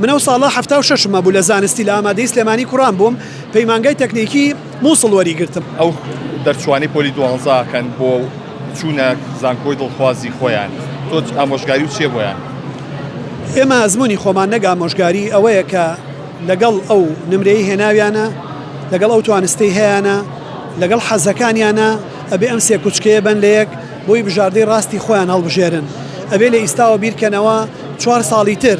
من ئەو ساڵە حەفتا و شەشم هەبوو لە زانستی لە ئامادەیی سلێمانی کوڕان بووم پەیمانگای تەکنیکی موسڵ وەری گرتم. ئەو دەرچوانەی پۆلی دوانزە کەن بۆ چوونە زانکۆی دڵخوازی خۆیان تۆ ئامۆژگاری و چیە بۆیان؟ ئێمە ئەزموونی خۆمان نەک ئامۆژگاری ئەوەیە کە لەگەڵ ئەو نمرەی هێناویانە لەگەڵ ئەو توانستی هەیانە لەگەڵ حەزەکانیانە ئەبێ ئەم سێ کوچکەیە بەن لە یەک بۆی بژاردەی ڕاستی خۆیان هەڵبژێرن ئەبێ لە ئیستاوە بیرکەنەوە چوار ساڵی تر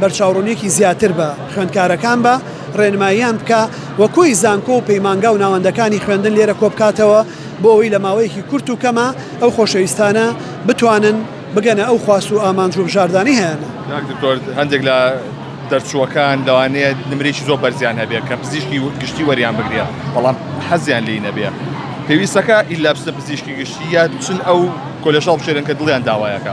بەرچاوڕوونیەکی زیاتر بە خوێندکارەکان بە ڕێنماییان بکا و کۆی زانکۆ و پەیمانگا و ناوەندەکانی خوێندن لێرە کۆبکاتەوە بۆ ئەوەی لە ماوەیەکی کورت و کەما ئەو خۆشەویستانە بتوانن بگەنە ئەو خواست و ئامانج و بژاردانەی هەیانە. کاک دکتۆر هەندێک لە دەرچووەکان لەوانەیە نمرەیەکی زۆر بەرزیان هەبێت کە پزیشکی گشتی وەریان بگرێت بەڵام حەزیان لێی نەبێ پێویستەکە ئیلا بچنە پزیشکی گشتی یا بچن ئەو کۆلێژە هەڵبژێرن کە دڵیان داوایەکە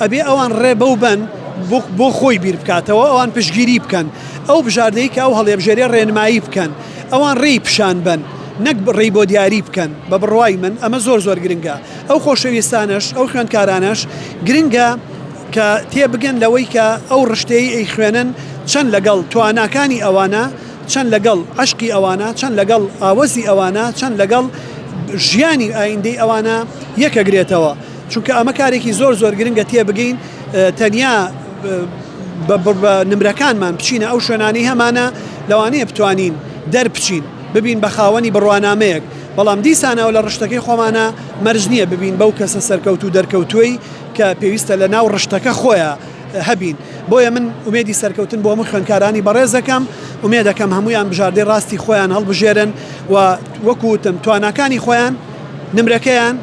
ئەبێ ئەوان ڕێ بەو بەن بۆ خۆی بیر بکاتەوە، ئەوان پشتگیری بکەن، ئەو بژاردەی کە ئەو هەڵێبژێرێ ڕێنمایی بکەن، ئەوان ڕێی پیشان بەن نەک ڕێی بۆ دیاری بکەن، بە بڕوای من ئەمە زۆر زۆر گرنگە، ئەو خۆشەویستانەش ئەو خوێندکارانەش گرنگە کە تێ بگەن لەوەی کە ئەو ڕشتەی ئەیخوێنن چەند لەگەڵ تواناکانی ئەوانە، چەند لەگەڵ عەشقی ئەوانە، چەند لەگەڵ ئاوەزی ئەوانە، چەند لەگەڵ ژیانی ئایندەی ئەوانە یەک ئەگرێتەوە. چونکە ئەمە کارێکی زۆر زۆر گرنگە تێبگەین تەنیا بە نمرەکانمان بچینە ئەو شوێنانی هەمانە لەوانەیە بتوانین دەربچین ببین بە خاوەنی بڕوانامەیەک بەڵام دیسانەوە لە ڕشتەکەی خۆمانە مەرج نییە ببین بەو کەسە سەرکەوت و دەرکەوتوی کە پێویستە لە ناو ڕشتەکە خۆیان هەبین بۆیە من ومێدی سەرکەوتن بۆ هەموو خوێنکارانی بەڕێزەکەم ومێ دەکەم هەمویان بژاردەی ڕاستی خۆیان هەڵبژێرن و وەکوتم تواناکانی خۆیان نمرەکەیان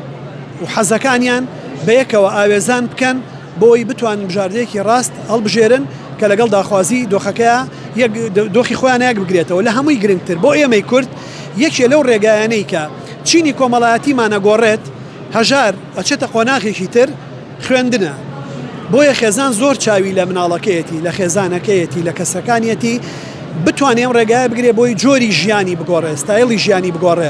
و حەزەکانیان بە یەکەوە ئاوێزان بکەن بۆی بتوانن بژاردەیەکی ڕاست هەڵبژێرن کە لەگەڵ داخوازی دۆخەکەیا یەک دۆخی خۆیان یەک بگرێتەوە لە هەمووی گرنگتر بۆ ئێمەی کورد یەکێ لەو ڕێگایانەی کە چینی کۆمەڵایەتیمان ئەگۆڕێت هەژار ئەچێتە قۆناغێکی تر خوێندنە بۆیە خێزان زۆر چاوی لە مناڵەکەیەتی لە خێزانەکەیەتی لە کەسەکانیەتی بتوانێ ئەم ڕێگایە بگرێ بۆی جۆری ژیانی بگۆڕێ ستایلی ژیانی بگۆڕێ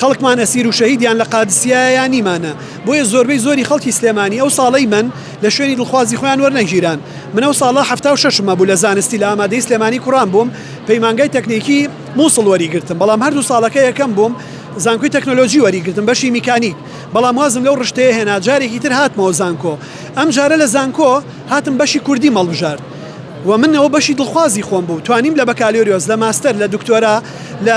خەڵکمان ئەسیر و شەهیدیان لە قادسیایە یا نیمانە بۆیە زۆربەی زۆری خەڵکی سلێمانی ئەو ساڵەی من لە شوێنی دڵخوازی خۆیان وەرنەگیران من ئەو ساڵە حەفتا و شەشم هەبوو لە زانستی لە ئامادەی سلێمانی کوڕان بووم پەیمانگای تەکنیکی موسڵ وەریگرتم بەڵام هەردوو ساڵەکە یەکەم بووم زانکۆی تەکنۆلۆجی وەریگرتم بەشی میکانیک بەڵام وازم لەو ڕشتەیە هێنا جارێکی تر هاتمەوە زانکۆ ئەم جارە لە زانکۆ هاتم بەشی کوردی مەڵبژارد و من ئەوە بەشی دڵخوازی خۆم بوو توانیم لە بەکالۆریۆس لە ماستەر لە دکتۆرا لە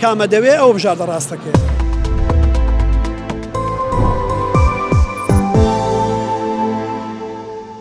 کامە دەوێ ئەوە بژاردە ڕاستەکەیە.